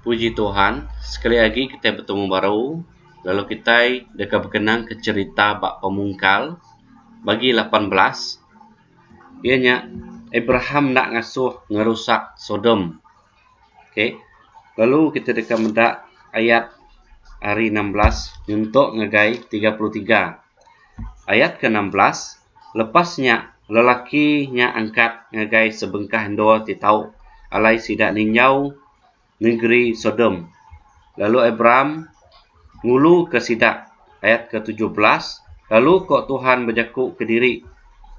Puji Tuhan sekali agi kitai betemu baru lalu kitai deka bekenang ke cherita ba pemungkal bagi lapan belas iya nya Abraham enda ngasuh ngerusak Sodom okay lalu kitai deka meda ayat ari enam belas nyentok ngagai tiga puluh tiga Ayat ke enam belas, Lepas nya, lelaki nya angkat ngagai sebengkah endur ti tau alai sida ninjau nengeri Sodom, lalu Abram nguluka sida. Ayat ke tujuh belas, Lalu ko Tuhan bejaku kediri,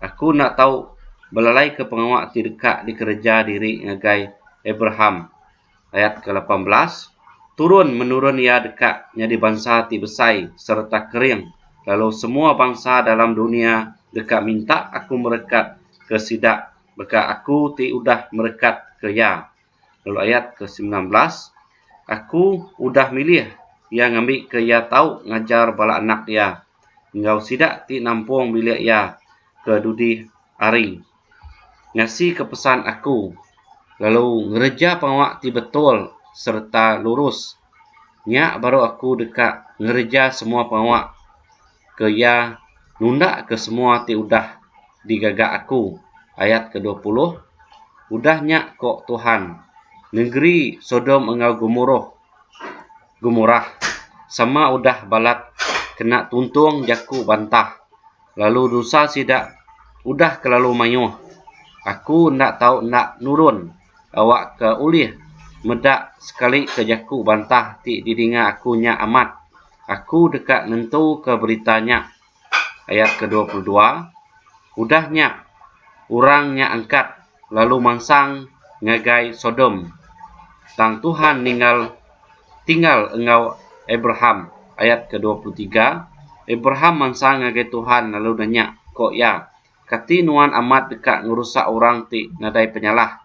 Aku enda tau belalaika pengawa ti deka dikereja diri ngagai Abraham. ayat ke lapan belas, Turun menurun iya deka nyadi bansa ti besai sereta kering, lalu semua bansa dalam dunya deka minta Aku merekat ke sida baka Aku ti udah merekat ke iya. Lalu ayat ke semilan belas, Aku udah milih iya ngambika iya tau ngajar bala anak iya enggau sida ti nampung bilik iya ke dudi hari. ngasika pesan aku lalu ngereja pengawa ti betul sereta lurus. Nya baru aku deka ngereja semua pengawa ke iya nundaka semua ti udah digaga aku, ayat kedua puluh. Udah nya ku Tuhan, nengeri Sodom enggau Gomoroh, Gomorah, sama udah balat kena tuntung jaku bantah. lalu dosa sida udah kelalu mayuh. Aku enda tau enda nurun awakka ulih meda sekali ke jaku bantah ti didinga aku nya amat. Aku deka nentuka berita nya. Ayat ke dua puluh dua Udah nya orang nya angkat. lalu mansang ngagai Sodom, tang Tuhan ninggal tinggal enggau Abraham. Ayat ke dua puluh tiga, Abraham mansang ngagai Tuhan lalu nanya, ko iya, Kati Nuan amat deka ngerusak orang ti nadai penyalah,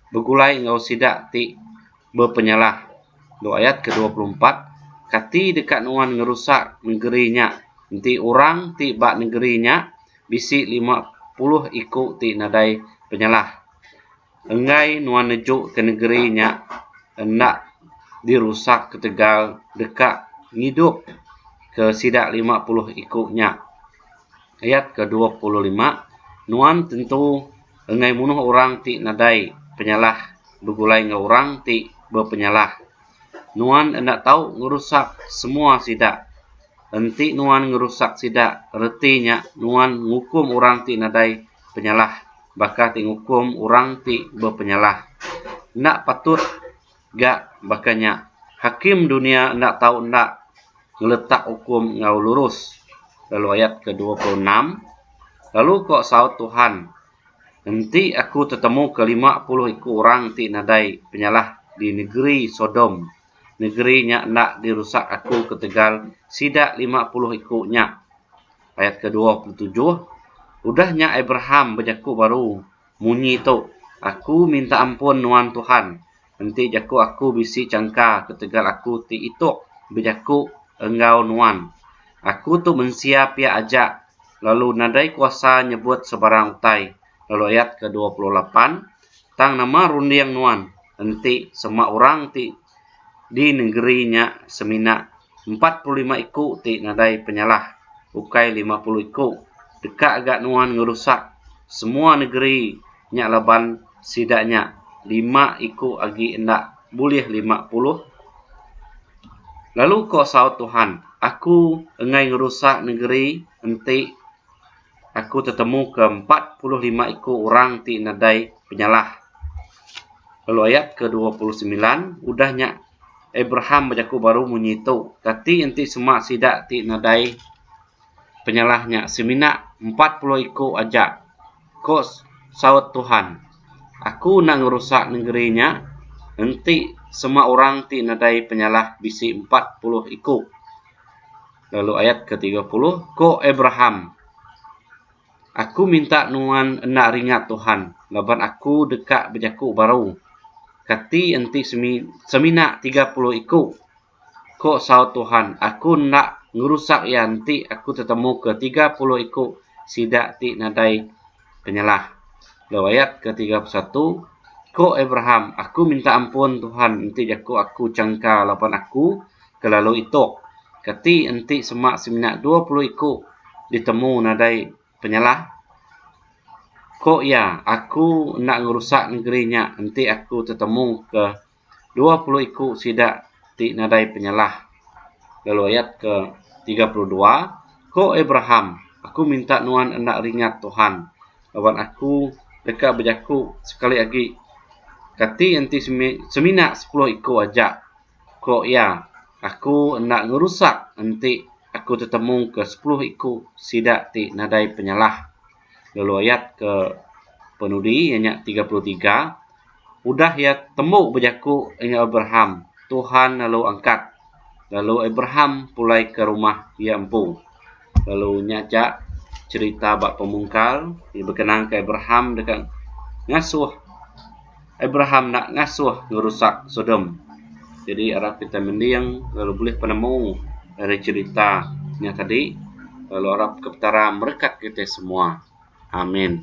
begulai enggau sida ti bepenyalah? Lalu ayat ke dua puluh empat, Kati deka Nuan ngerusak nengeri nya, enti orang ti ba nengeri nya Bisi lima puluh iku ti nadai penyalah. Enggai nuan neju ke negeri nya enda dirusak ketegal deka ngidup ke sida lima puluh iku nya. Ayat ke dua puluh lima, Nuan tentu enggai munuh orang ti nadai penyalah begulai enggau orang ti bepenyalah. Nuan enda tau ngerusak semua sida. Enti nuan ngerusak sida, reti nya nuan ngukum orang ti nadai penyalah baka ti ngukum orang ti bepenyalah. Enda patut ga baka nya. Hakim dunya enda tau enda ngeletak ukum enggau lurus, lalu ayat ke-26, lalu ko saut Tuhan, Enti Aku tetemuka lima puluh iku orang ti nadai penyalah di negeri Sodom, negeri nya enda dirusak Aku ketegal sida lima puluh iku nya. Ayat kedua puluh tujuh, Udah nya Abraham bejaku baru munyi tu, Aku minta ampun nuan Tuhan, Enti jaku aku bisi changka ketegal aku ti itok bejaku enggau nuan. Aku tu mensia pia aja lalu nadai kuasa nyebut sebarang utai lalu ayat ke dua puluh lapan tang nama runding nuan enti sema orang ti di nengeri nya semina empat puluh lima iku ti nadai penyalah ukai lima puluh iku deka ga nuan ngerusak semua negeri nya laban sida nya lima iku agi enda bulih lima puluh lalu ko saut Tuhan aku engai ngerusak negeri enti aku tetemuka empat puluh lima iku orang ti nadai penyalah. Lalu ayat ke dua puluh semilan, udah nya Abraham bejaku baru munyi tu, kati enti sema sida ti nadai penyalah nya semina empat puluh iku aja? Ko saut Tuhan, Aku enda ngerusak nengeri nya enti sema orang ti nadai penyalah bisi empat puluh iku. Lalu ayat ke tiga puluh, ko Abraham, Aku minta nuan enda ringat Tuhan, laban aku deka bejaku baru, Kati enti semina tiga puluh iku? Ko saut Tuhan, Aku enda ngerusak iya enti aku tetemuka tiga puluh iku sida ti nadai Penyalah. Dalam ayat ke tiga puluh satu, Ko Abraham, aku minta ampun Tuhan enti jako aku changka laban aku ke lalu itok. Kati enti semak semina dua puluh iko ditemu nadai penyalah? Ko iya, aku enda ngerusak nengeri nya enti aku tetemu ke. Dua puluh iku sida ti nadai penyalah. Lalu ayat ke tiga puluh dua, Ko Abraham, Aku minta nuan enda ringat Tuhan, laban aku deka bejaku sekali agi, Kati enti semina sepuluh iku aja, ko iya, aku enda ngerusak enti aku tetemuka sepuluh iku sida ti nadai penyalah. lalu ayat ke penudi iya nya tiga puluh tiga udah iya tembu bejaku enggau Abraham Tuhan lalu angkat lalu Abraham pulai ke rumah iya empu lalu nya aja cerita ba pemungkal iya bekenang ke Abraham deka ngasuh Abraham enda ngasuh ngerusak Sodom. Jadi rak kita mending lalu bulih penemu ari cherita nya tadi lalu arap ke Petara merekat kita semua. Amin.